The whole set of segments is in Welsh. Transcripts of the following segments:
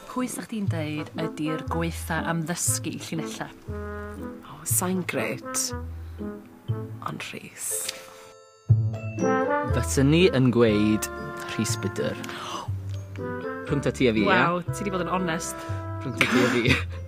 Pwy sa chdi'n deud ydi'r gwaetha am ddysgu llinella? O sai'n grêt ond Rhys. Fysen ni yn gweud Rhys Budr. Rhwngta ti a fi ia? Waw ti 'di bod yn onest. Rhwngta ti a fi.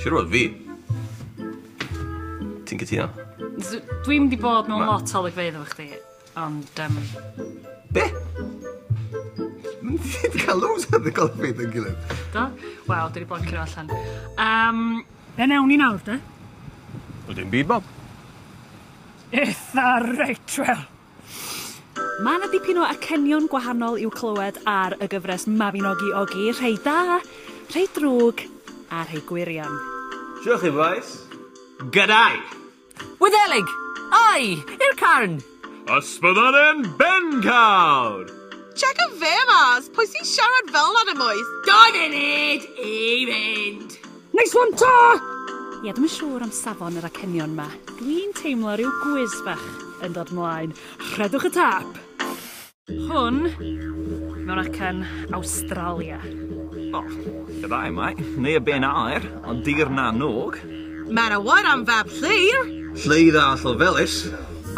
Siwr fod fi. Ti'n cytuno? Dwi'n di bod mewn lot o olygfeydd efo chdi, ond... Um... Be? Ti'n cael loads o ddi golygfeydd yn gilydd. Do? Wel, dwi di bod yn cyrra allan. Um... Be newn ni nawr, de? Wel, dim byd, Bob. Eitha reit, wel. Mae 'na dipyn o acenion gwahanol i'w clywed ar y gyfres Mabinogi Ogi, rhei da, rhei drwg a rhei gwirion. Shwt 'y chi bois? Gadau! Wyddeleg! Ai! I'r carn! Ysbyddaren Bencawr! Checa fe mas! Pwy sy'n siarad fel 'na yn y moes? Dau funud i fynd! Nice one Tor! Ie, dwi'm yn siŵr am safon yr acenion 'ma. Dwi'n teimlo rhyw gwis bach yn dod mlaen. Rhedwch y tâp! Hwn mewn acen Awstralia. O, fydda i mai, neu y ben aer, ond dir na n-og. Mae 'na wâr am fab Llyr! Lly dda Llofelys.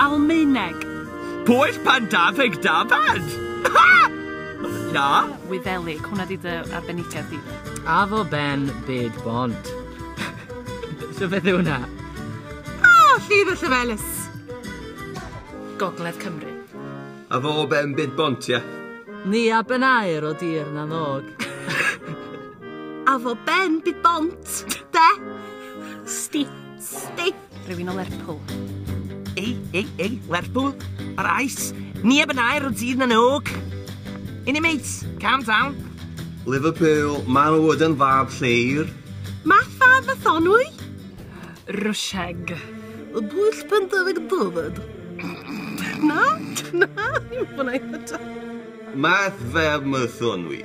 Almaeneg. Pwyll pan daf ag dafad! Haha! Ia? Wyddeleg, hwnna di dy arbenigedd di. Afo Ben byd bont. So beth yw hwnna? Oh, Ffydd y Llefelys. Gogledd Cymru. Afo Ben byd bont, ia? Ni a Ben air o dir na nog. Afo Ben byd bont, de? Sti. Sti. Rhywun o Lerpwl. Ei, ei, ei, Lerpwl, ar ais, neb yn air o dydd na nôg. Inni mates, calm down. Liverpool, maen nhw wedi yn fab lleir. Matha Mathonwy? Rwsieg. Y bwll pen dyfeg dyfed. Na, na, dim hwnna i ddod. Math fab Mathonwy.